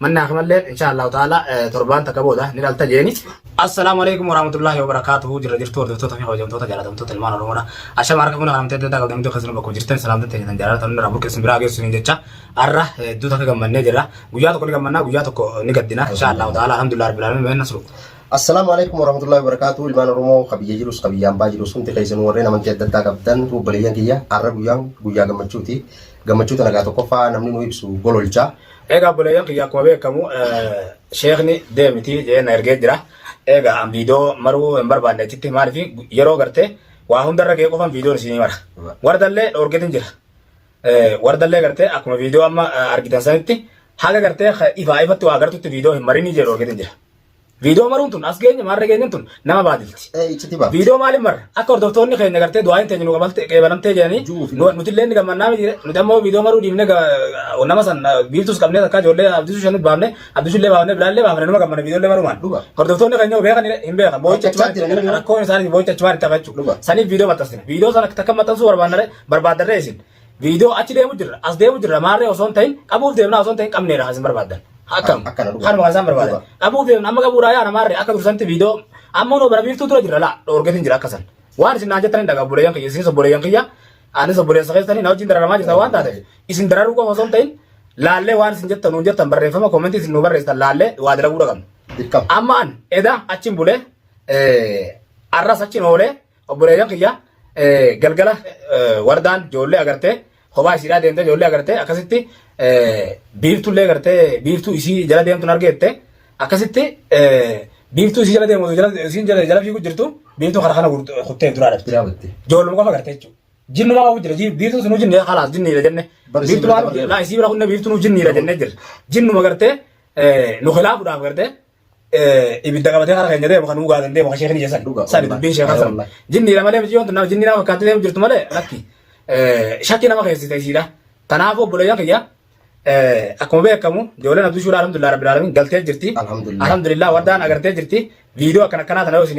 Mannaa kamalleen inshaa Allahu ta'ala torbaan takka booda ni dhalta jeeni. Assalaamu alaikum warahmatullahi wabarakatuhu jirra jirtu hordoftoota fi hojjamtoota jaalatamtoota ilmaan oromoodha ashama harka fuuna kanamtee adda addaa qabdan hundi keessanuu bakka jirtan salaamta ta'e kan jaalatan hundi rabbul keessan biraa geessu hin jecha arra hedduu takka gammannee jirra guyyaa tokko ni gammannaa guyyaa tokko ni gaddina insha allahu ta'ala alhamdulillah rabbil alamin meenna sulu Assalaamu alaikum warahmatullahi wabarakatuh ilmaan Oromoo kabiyya jirus kabiyya hambaa jirus hundi keessanuu warreen amantii adda addaa qabdan obboleeyyan kiyya har'a guyyaan guyyaa gammachuuti gammachuu tana gaa tokkoffaa namni nu ibsu gololcha Egaa obboleeyyan kiyya akkuma beekamu sheekni deemiti jee na ergee jira. Egaa an viidiyoo maruu hin barbaanne achitti maaliif yeroo gartee waa hundarra ga'ee qofan viidiyoon isinii mara. Wardallee dhoorgetin jira. Wardallee gartee akkuma viidiyoo amma argitan sanitti haga gartee ifaa ifatti waa gartutti viidiyoo hin marinii jee dhoorgetin jira. Viidiyoo maruun tun as geenye maarra geenyeen tun nama baadilti. Ee icciti baafti. Viidiyoo maaliin marra? Akka hordoftoonni keenya gartee du'aayin teenya nu qabalte qeebalamtee jedhanii Juufi. nu- nuti illee ni gammannaa miti nuti ammoo viidiyoo maruu dhiifne ga- nama san ah, biiftuus qabnee takkaa ijoollee abdisuu shanit baafne abdisuu illee baafne bilaa illee baafne numa gammanna viidiyoo illee marumaan. Dhuga. Hordoftoonni keenya yoo beekan hin beekan boo'icha Hojjechaa achumaan jiran immoo. rakkoon isaanii boo'icha achumaan itti hafachuu. Dhuga. Saniif viidiyoo maxxansina. Viidiyoo sana takka maxxansuu barbaannare barbaaddarree isin. Viidiyoo achi deemu jirra, as deemu jirra, maarree osoo hin ta'in qabuuf deemnaa osoo hin ta'in qabneedha kan isin barbaaddan. Akkam? Kan- akkana dhugaa. Kanuma kan isaan barbaadan. Dhugaa. Qabuuf deemna amma qabuudhaa yaana maarree akka dursanti viidiyoo amma noo bara biiftuu dura jirra laa dhoorgeetiin jira akka san. Waan isin naan jettan hin dhagaa obboleeyyan kiyya isinis obboleeyyan kiyya anis obboleessa keessanii na wajjin dararamaa jirta waan taateef isin dararuu qofa osoo hin ta'in laallee waan isin jettan nuun jettan barreeffama koomentii isin nu barreessitan laallee waa dalaguu dhaqabna. Dirqama. Amma an eda achiin bulee arras achiin oolee Obboleeyyan kiyya galgala wardaan ijoollee agartee kophaa isiidhaa deemtee ijoollee agartee akkasitti biiftuullee agartee biiftuu isii jala deemtuun argeette akkasitti biiftuu isii jala deemu jala isiin jala jala fiiguu jirtu biiftuu kana kana kuttee duraa dhabde. Jira batte. Ijoolluma qofa agartee jechuudha. Jinni maa jira ji- biiftuu sunuu jinni halaas jinniidha jenne. Bar isii Biiftuu bira maa qabdee. laa isii bira kunne biiftuu nuu jinniidha jennee jirra. Jinnuma agartee nu khilaafuudhaaf agartee ibidda qabatee karaa keenya deemu kan dhugaa dandee bakka sheekni jesan sani dubbiin sheekan san jinniidha malee miti yoon nama jinnii nama fakkaatti deemu jirtu malee lakki shakkii nama keessi ta'isiidha kanaafuu obboleeyyan kiyya akkuma beekamu ijoolleen abduu shuuraa alhamdulillah rabbil alamin galtee jirti alhamdulillah wardaan agartee jirti viidiyoo akkana akkanaa tana yoo isin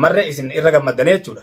marre isin irra gammaddanii jechuudha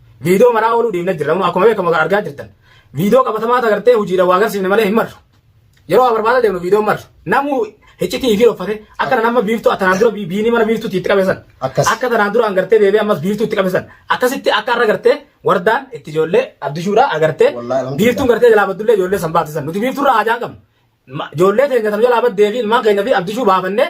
Viidiyoo manaa ooluu deemna jirra. Amma akkuma beekamu kan argaa jirtan. Viidiyoo qabatamaa agartee hojiidhaan waa agarsiifne malee hin marru. Yeroo waa barbaada deemnu viidiyoon marru. Namuu hiccitii fi uffate akka tanaan amma biiftuu tanaan dura biinii mana biiftuutti itti qabeessan. Akkas. Akka tanaan dura agartee deebi'ee ammas biiftuu itti qabeessan. Akkasitti akka irra agartee wardaan itti ijoollee abdishuudhaa agartee Wallaahi, alhamdulillah. biiftuun gartee jalaa baddullee ijoollee san baatisan. Nuti biiftuurraa hajaan qabnu. Ma- Ijoollee teenya tan jalaa baddee fi ilmaan keenya fi abdishuu baafannee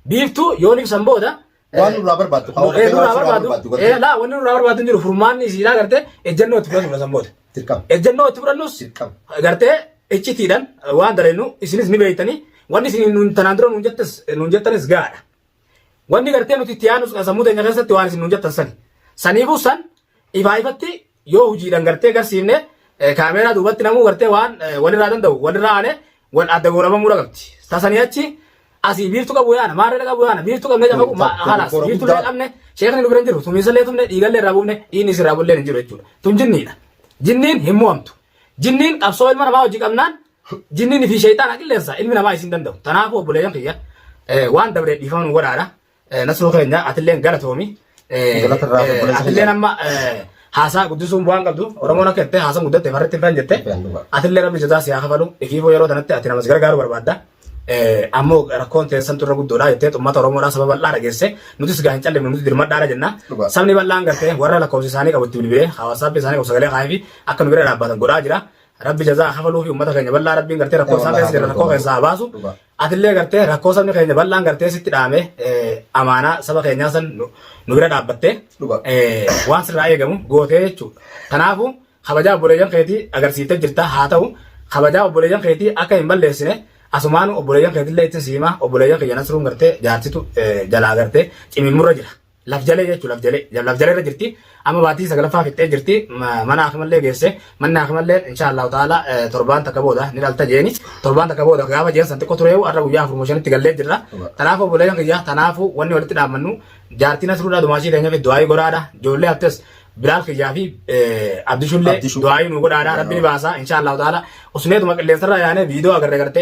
biiftuu yoon ibsan booda Waan nurraa barbaaddu haa Ee, nurraa nurraa barbaadu. barbaaddu Ee, gartee laa, wanni nurraa barbaadu hin jiru. Furmaanni isiidhaa gartee ejjennoo itti fudhannudha san booda. dirqama Ejjennoo itti fudhannus dirqama. gartee iccitiidhaan waan dareennu isinis ni beektanii wanni isin nuun tanaan dura nuun jettas nuun jettanis gaadha. Wanni gartee nuti itti yaadnu sammuu teenya keessatti waan isin nuun jettan sani. Saniifuu san ifaa ifatti Yoo hujiidhan gartee garsiifne kaameeraa duubatti namuu gartee waan walirraa danda'u walirraa aane wal adda goorabamuu dhaqabdi. Tasanii achi asii biiftu qabu yaana maarree qabu yaana biiftu qabne jafa ma halas biiftu illee qabne sheekni nu bira hin jiru tumiinsa illee tumne dhiigallee irraa buufne dhiinni isirraa bullee hin jiru jechuudha. Tun jinniidha. Jinniin hin mo'amtu. Jinniin qabsoo ilma namaa hojii qabnaan jinniin fi sheeyxaana qilleensa ilmi namaa isin danda'u. Tanaafuu obboleeyyan kiyya waan dabree dhiifama nu godhaadha. Nasruu keenya atilleen galatoomi. Galata irraa Eh, obboleessa Atilleen kiyya. amma eh, haasaa guddisuun bu'aan qabdu Oromoon akka jettee haasaa guddatte farratti hin faan jette. Dhugaan dhugaa. Atillee rabbi jazaa siyaa kafalu ifiifuu yeroo tanatti ati namas gargaaruu barbaadda. Eh, Ammoo rakkoon teessan turre guddoodha jettee uummata Oromoodhaa saba bal'aa dhageesse nutis gaa hin callimne nuti dirmadhaadha jenna. Dhugaa. Sabni bal'aan gartee warra lakkoofsi isaanii qabu itti bilbilee hawaasaa fi isaanii qabu sagalee kaa'ee fi akka nu bira dhaabbatan godhaa jira. Rabbi jazaa kafaluu fi uummata keenya bal'aa rabbiin gartee rakkoo isaa keessa jira rakkoo keessaa haa baasu. Dhugaa. Atillee gartee rakkoo sabni keenya bal'aan gartee sitti dhaame amaanaa saba keenyaa san nu bira dhaabbattee waan sirraa eegamu gootee jechuudha. Kanaafuu kabajaa obboleeyyan keetii agarsiiftee jirta haa ta'u kabajaa obboleeyyan keetii akka hin balleessine asumaan obboleeyyan keetillee ittiin siimaa obboleeyyan kiyya nasruun gartee jaartitu jalaa gartee cimimmurra jira. lafjalee jechuun lafjalee lafjalee irra jirti amma baatii sagalaffaa fixxee jirti mana hakimallee geesse manni hakimallee insha allahu taala torbaan takka booda ni dhalta jeeni torbaan takka booda gaafa jeen san xiqqoo tureewu har'a guyyaa afur shanitti gallee jirra tanaaf obboleeyyan kiyya tanaafu wanni walitti dhaabbannu jaartiin asruudhaa dumaashii teenya fi du'aayii goraadha ijoollee hattees bilaal kiyyaa fi abdishullee du'aayii nu godhaadha rabbi ni baasa insha allahu taala usneetuma qilleensarraa yaanee viidiyoo agarre garte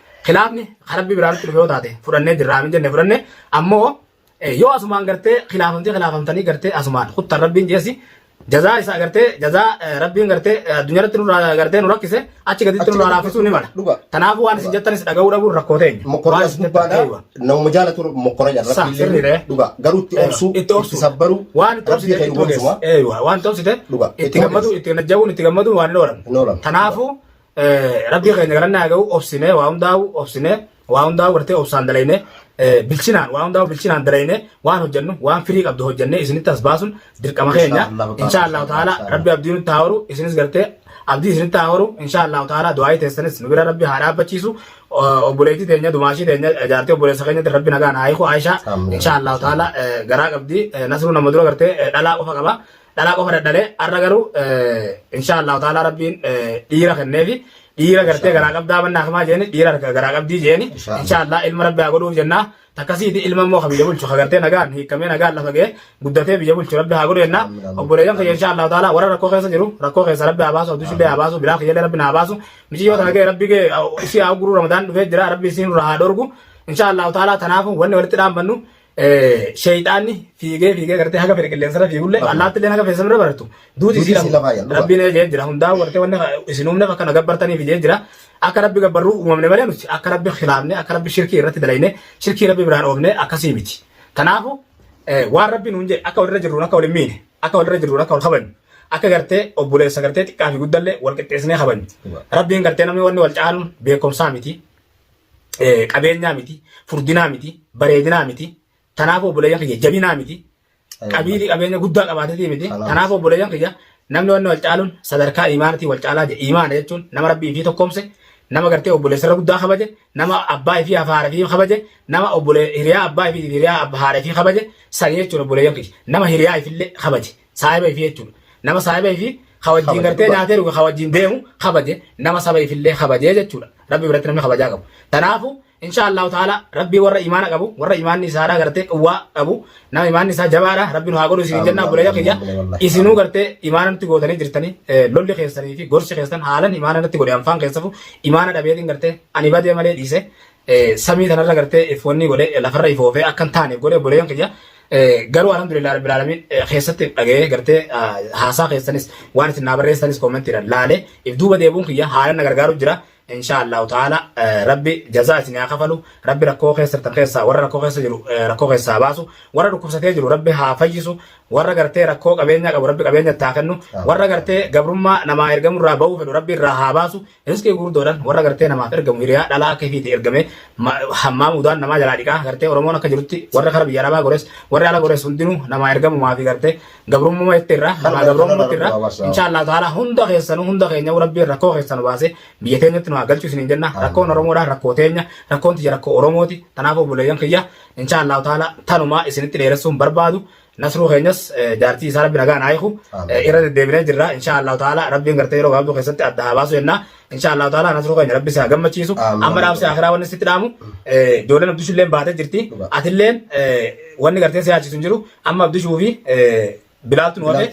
Kilaafni kan rabbii biraa nutti dhufe yoo taate fudhannee jirra amin jenne fudhanne ammoo yoo asumaan gartee kilaafamtee kilaafamtanii gartee asumaan kuttan rabbiin jeesi jazaa isaa gartee jazaa rabbiin gartee addunyaa irratti nurraa gartee nu rakkise achi gaditti nurraa laaffisuu ni mala. Kanaafuu waan isin jettanis dhaga'uu dhabuun rakkoo teenya. Mokoraan isin gubbaadha. Nama jaalatu mokoraan jaalatu. Sa sirriidha. Dhugaa garuu itti obsuu itti obsuu sabbaruu waan itti obsite itti ogeessa. Waan itti obsite itti gammadu itti najjawuun itti gammadu waan hin oolan. Kanaafuu Rabbii keenya galannaa haa ga'u obsinee waa hundaa'u obsinee waa hundaa'u gartee obsaan dalaynee bilchinaan waa hundaa'u bilchinaan dalaynee waan hojjennu waan firii qabdu hojjennee isinitti as baasun dirqama keenya insha Allah ta'ala rabbi abdii nutti haa horu isinis gartee abdii isinitti haa horu insha Allah ta'ala du'aayii teessanis nu bira rabbi haa dhaabbachiisu obboleettii teenya dumaashii teenya jaartii obboleessa keenyatti rabbi nagaan haa hiiku Aishaa insha Allah ta'ala garaa qabdi nasruu nama dura gartee dhalaa qofa qaba Dhalaa qofa dadhalee har'a garuu inshaa Allahu ta'ala rabbiin dhiira kenneefi dhiira gartee garaa qabdaa mannaa kamaa jeeni dhiira garaa qabdii jeeni inshaa Allah ilma rabbi haa godhuuf jennaa takkasiiti ilma immoo kan biyya bulchu kan gartee nagaan hiikamee nagaan lafa ga'ee guddatee biyya bulchu rabbi haa godhu jennaa obboleeyyan kiyya inshaa Allahu ta'ala warra rakkoo keessa jiru rakkoo keessa rabbi haa baasu abduu shillee haa baasu biraa kiyyallee rabbi haa baasu miciyyoo tana ga'e rabbi ga'e ishii haa guruu ramadaan dhufee jira rabbi isiin irraa haa dhorgu inshaa Allahu ta'ala tanaafu wanni walitti dhaambannu Sheeyxaanni fiigee fiigee gartee haga fedhe qilleensarra fiigullee allaattillee haga feessan bira baratu duuti isii lama rabbiin jee jira hundaa wartee wanna isin uumne akka na gabbartaniif jee jira akka rabbi gabbarruu uumamne malee nuti akka rabbi khilaafne akka rabbi shirkii irratti dalayne shirkii rabbi biraan oofne akkasii miti kanaafu waan rabbi nuun jee akka walirra jirruun akka wal hin miine akka walirra jirruun akka wal kabajnu akka gartee obboleessa gartee xiqqaa fi guddallee wal qixxeessinee kabajnu rabbiin gartee namni wanni wal caaluun beekumsaa miti eh, qabeenyaa miti, furdinaa miti, bareedinaa miti. Tanaaf obboleeyyan kiyya jabinaa miti. Qabiilii qabeenya guddaa qabaatetii miti. Kalaas. Tanaaf obboleeyyan kiyya namni wanni wal caaluun sadarkaa imaanatii wal caalaa jedhe. Imaana jechuun nama rabbii fi tokkoomse, nama gartee obboleessarra guddaa kabaje, nama abbaa fi haadha fi kabaje, nama obbolee hiriyaa abbaa fi hiriyaa ab- haadha fi kabaje, san jechuun obboleeyyan kiyya. Nama hiriyaa ifillee kabaje. saahiba ifii jechuudha. Nama saahiba ifii ka wajjin Kabaje gartee dhugaa. nyaatee dhuge ka wajjin deemu kabaje nama saba ifillee kabajee jechuudha. Rabbi biratti namni kabajaa qabu. Tanaafu insha Allahu ta'ala rabbi warra imaana qabu warra imaanni isaadhaa gartee quwwaa qabu nama imaanni isaa jabaadha rabbi nu haa godhu isin jennaa buleeyya kiyya isinuu gartee imaana nutti gootanii jirtanii eh, lolli keessanii fi gorsi keessan haalan imaana natti godhe anfaan keessafu imaana dhabeetiin gartee ani badee malee dhiise samii tanarra gartee ifwanni godhe lafarra ifoofee akka hin taane godhe obboleeyyan kiyya garuu alhamdulillah rabbil alamin keessatti dhaga'ee gartee haasaa keessanis waan isin naa barreessanis koomentiidhaan laale if duuba deebuun kiyya haala na gargaaru jira insha allahu ta'ala rabbi jazaa isin haa kafalu rabbi rakkoo keessattan keessaa warra rakkoo keessa jiru rakkoo keessaa baasu warra dhukkubsatee jiru rabbi haa fayyisu warra gartee rakkoo qabeenya qabu rabbi qabeenya itti haa kennu warra gartee gabrummaa namaa ergamurraa ba'uu fedhu rabbi irraa haa baasu Riskii gurguddoodhaan warra gartee namaaf ergamu hiriyaa dhalaa akka ifiiti ergamee hammaa mudaan namaa jalaa dhiqaa gartee Oromoon akka jirutti warra kara biyya arabaa gores warri ala gores hundinuu namaa ergamumaa fi gartee gabrummuma itti irraa namaa gabrummuma itti irraa inshaallah ta'ala hunda keessanuu hunda keenya rabbiin rakkoo keessanu baasee biyya teenyatti nu haa galchu isiniin jenna rakkoon Oromoodha rakkoo teenya rakkoon tiyya rakkoo Oromooti tanaaf obboleeyyan kiyya inshaallah ta'ala tanumaa isinitti dheeressuun barbaadu Nasruu keenyas jaartii isaa rabbi nagaan haa hiiku irra deddeebinee jirra insha Allahu ta'ala rabbiin gartee yeroo gaabduu keessatti adda haa baasu jenna insha Allahu ta'ala nasruu keenya rabbi isaa gammachiisu amma dhaamsi akhiraa wanni sitti dhaamu ijoolleen abdishuu illeen baatee jirti atilleen wanni gartee si yaachisu hin jiru amma abdishuu fi bilaaltu nu hafe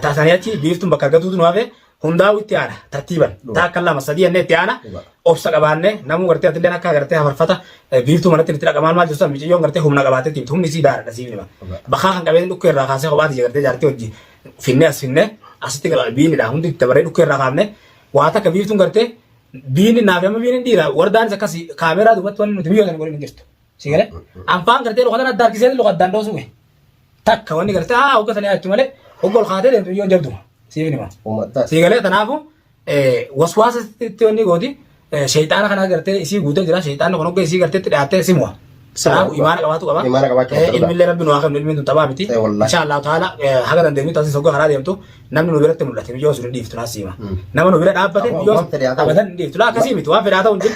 taasanii achi biiftuun bakka argatuutu nu hafe hundaa'u itti aana tartiiban Dhugaa. taa akka lama sadii jennee itti aana Dhugaa. obsa qabaanne namuu gartee atillee akka gartee hafarfata eh, biiftuu manatti itti dhaqamaan maal jirtu miciyyoon gartee humna qabaatee tiimtu humni sii daaradha siif nima Dhugaa. bakaa kan qabeen dhukkee irraa kaasee kophaati gartee jaartii hojii finnee as finnee asitti gara biinidha hundi itti dabaree dhukkee irraa kaafne waa takka biiftuun gartee biini naaf amma biini dhiira wardaanis akkasii kaameeraa dubbatti wanni nuti biyyoota hin godhin hin jirtu. Si galee? Anfaan gartee luka tana adda harkisee luka addaan dhoosuu kee. Takka wanni gartee haa hogga sanii achi malee hogga ol kaatee deemtu biyyoon jabdu. Siif hima. Uummataa. Si galee tanaafu waswaasa itti wanni gooti sheexaana kana gartee isii guutee jira sheexaanni kun hogga isii gartee itti dhiyaattee si mu'a. Tanaafu imaana qabaatu qaba. Imaana qabaachuu Eh, qabda. Ilmillee rabbi nu haa kennu ilmiin tun taphaa miti. Eh, wallaahi. Insha Allah taala haga dandeenyu tasis hogga karaa deemtu namni nu biratti mul'ate biyyoo sun hin dhiiftu naas hima. Mm. Nama nu bira dhaabbate Ammoo biyyoo waan fedhe haa ta'u. abadan hin dhiiftu. Laa akkasii miti waan fedhaa ta'u hin jiru.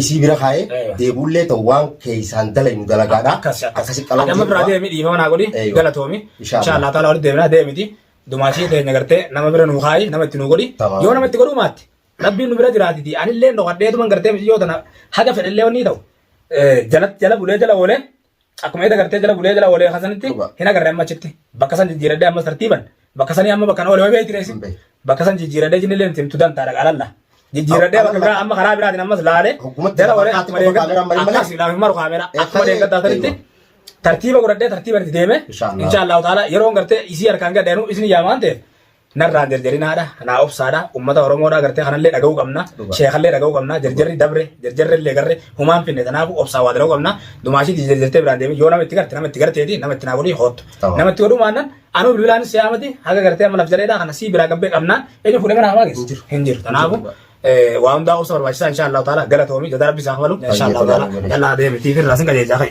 isii bira kaa'ee Eewa. deebuullee ta'u waan keessaan dalaynu dalagaadha. Akkasi akkasi. Akkasi qalama Adama biraa deemi dhiifama naa godhi Eewa. galatoomi. Inshaa Inshaa Allah taala walitti deebinaa deemiti. Dumaashii teenya gartee nama bira nuu kaayi nama itti nuu godhi. Tamam. Yoo nama itti godhuu maatte rabbiin nu bira jiraatiti anillee dhokadheetuman gartee miti yoo tana haga fedhellee wanni ta'u. Eh, Jala jala bulee jala oolee Akkuma eeda gartee jala bulee jala oolee kasanitti Dhugaa. hin agarre amma achitti. Bakka san jijjiiradhee ammas tartiiban. Bakka sanii amma bakka na oolee beekti reessi. Hin beeku. Bakka san jijjiiradhee jinni illee himtu dantaadha alalla. Jijjiiradhee bakka biraa amma karaa biraatiin ammas laalee Hoggumatti jala oolee fakkaatti akkuma qofa deeggadda- kaameraan malee malee. akkas laafin maru kaameraa Eh, akkuma eh, deeggaddaa eh, sanitti eh. tartiiba godhadhee tartiiban itti deeme. Inshaallah. Inshaallah ta'ala yeroon gartee isii harkaan gadheenu isin yaamaan ta'e narraan jarjarinaadha naa obsaadha ummata oromoodha gartee kanallee dhaga'uu qabna Dhugaa. sheekallee dhaga'uu qabna jarjarri dabre jarjarrellee garre humaan finne tanaafu obsaa waa dalaguu qabna dumaashiiti jarjartee biraan deemin yoo nama itti garte nama itti garteeti nama itti naa godhii hoottu Tawa. nama itti godhuu maannan anuu bilbilaan si yaamati haga gartee amma naf jaleedha kana sii biraa gabbee qabnaan eenyu fuudhee mana hamaa geessu hin jiru tanaafu eh, waa hundaa obsa barbaachisaa inshaa allahu taala galatoomi jadaa rabbi isaa kabalu inshaa allahu taala yallaa deemitiif irraa sin qajeelchaa kai